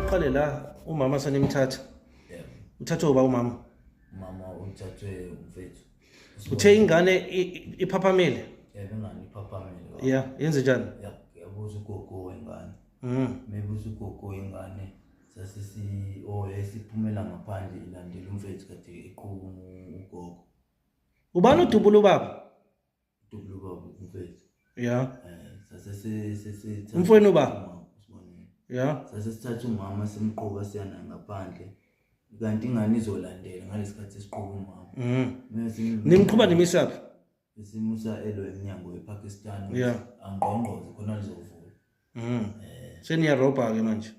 uqale la umama sanimthatha uthathwe uba umama umama uthathwe umfethu uthe ingane iphaphamile ingane iphaphamile ya yenze njani yabuza ugogo wengane mm. mebuza ugogo wengane sasisi o oh, esiphumela ngaphandle ilandela umfethu kade eqhuba ugogo ubani udubula ubaba udubula ubaba umfethu ya eh, umfwenu ubaba ya sase sithatha umama simqoka siyana ngaphandle kanti ingane izolandela ngalesikhathi esiqoka umama mm. nimqhuba nimisaphi isimusa elwe emnyango wePakistan yeah angqongqoze khona lizovula mm. eh. seniyaroba ke manje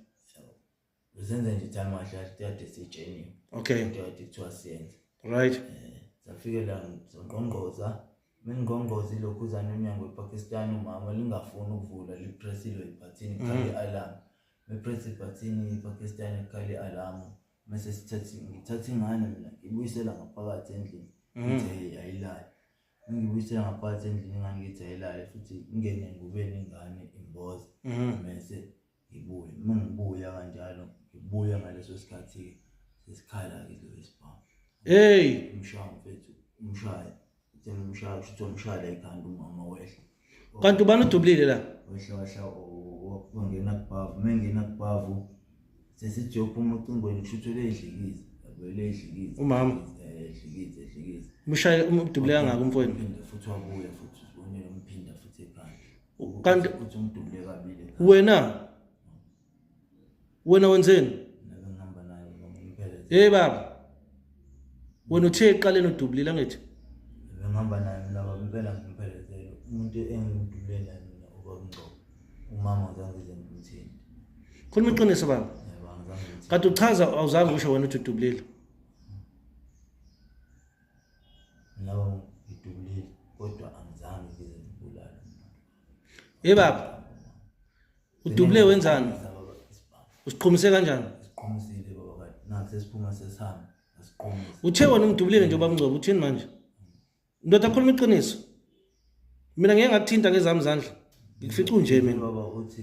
uzenza nje time washo kade sitsheniwe okay kodwa kade kuthiwa siyenze right eh, safike la ngqongqoza mengqongqoza ilokhuzana emnyango wepakistan umama lingafuni ukuvula lipresile ibhathini mm. khale alarm mepress ibhathini ipakistan ekhale alarm mese sithathe ngithathe ingane mina ngibuyisela ngaphakathi endlini mm. ngithe ayilali ngibuyisela ngaphakathi endlini ingane ngithi ayilali futhi ingene ngubeni ingane imboza mm. mese ngibuye uma ngibuya kanjalo ngibuya ngaleso sikhathi sesikhala-ke lo isibhamu hey umshaya mfethu umshaya uthe umshaya kusho ukuthi umshaya ekhanda umama wehla kanti ubani udubulile la wehla wehla wangena kubhavu uma engena kubhavu sesijophuma ocingweni kusho ukuthi uleyidlikiza vele edlikize umama edlikize edlikize umshaye umdubule kangaka umfowenu uphinde futhi wabuya futhi uzibonele umphinda futhi ekhanda kanti wena wena wenzeni hey baba wena uthe eqaleni udubulile angithi ngihamba naye mina baba impela ngimphelezele umuntu engidubule naye mina ubaba Ngcobo umama uzange nje ngimthini khuluma iqiniso baba kade uchaza awuzange usho wena uthi udubulile No, ngidubulile kodwa angizange ngize ngibulale. Hey baba. Udubule wenzani? Usiqhumise kanjani? Siqhumisile baba kade. Nathi sesiphuma sesihamba. Siqhumise. Uthe wena ungidubulile nje baba Ngcobo, uthini manje? Ndoda khuluma iqiniso. Mina ngeke ngakuthinta ngezami izandla. Ngifica unje mina. Baba uthi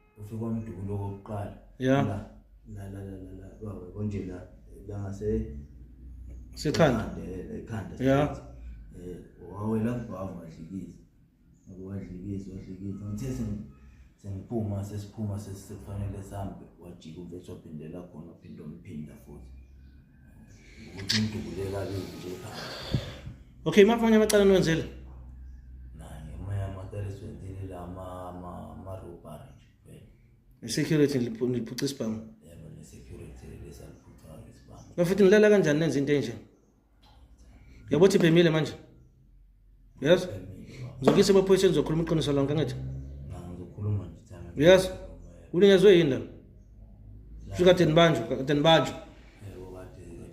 ufika umdukulo wokuqala ya la la la la la wawe konje la la ngase sekhanda ekhanda ya eh wawe la bhavu adlikiza wadlikiza wadlikiza ngithe sengiphuma sesiphuma sesifanele sambe wajika umfethu waphindela khona uphinde umphinda futhi Okay, mapha amanye amacala niwenzile? Security niliphuca isibhamu. Yebo, ne security lesaliphuca isibhamu. Bafuthi nilala kanjani nenza into enje? Yabo thi phemile manje. yes ngizokuyisa emaphoyiseni ngizokhuluma iqiniso lonke angithi yes uninyazwe yini la fikade nibanjwa kade nibanjwa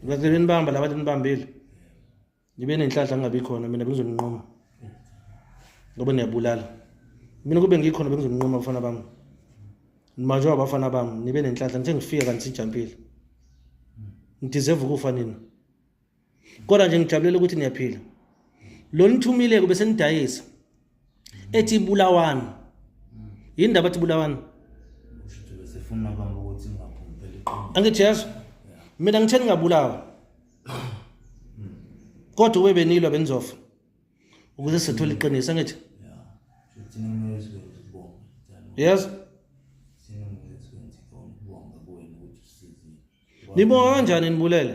kade benibamba laba kade nibambile nibe nenhlanhla ngingabi khona mina bengizoninqoma ngoba niyabulala mina kube ngikhona bengizoninqoma abafana bami nibanjwa abafana bami nibe nenhlanhla ngithe ngifika kanti sijampile ngideserve ukufa nina kodwa nje ngijabulela ukuthi niyaphila lo nithumile kube senidayisa ethi ibulawani yini ndaba ethi ibulawani angithi yezo mina ngitheni ngingabulawa kodwa ube benilwa benizofa ukuze sithole iqiniso angithi yezo nibonga kanjani nibulele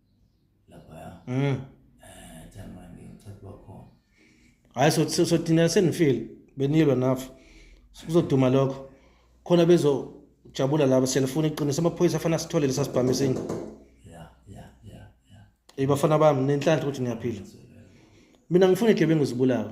laphaya mm eh thema ngicela bakhona hayi so so thina senifeel beniyelwa nafu kuzoduma lokho khona bezo jabula laba selifuna iqiniso amaphoyisa afana sithole lesasibhamu esinye yeah yeah yeah yeah ibafana bami nenhlanhla ukuthi ngiyaphila mina ngifuna igebengu zibulawe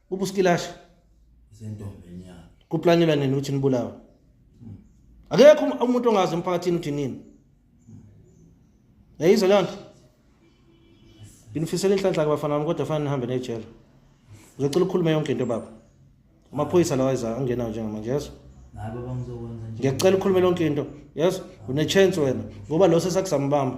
ubuskilasha isentombeni yakhe kuplanyelwa nini ukuthi nibulawe hmm. akekho um-, umuntu ongazi emphakathini ukuthi nini yayizwa leyo nto nginifisela inhlanhla ke bafana bami kodwa fanele nihambe nejele uzocela ukhulume yonke into baba amaphoyisa lawa eza angenayo njengamanje yeso ngiyacela ukhulume lonke into yeso une-chance wena ngoba lo sesakuzambamba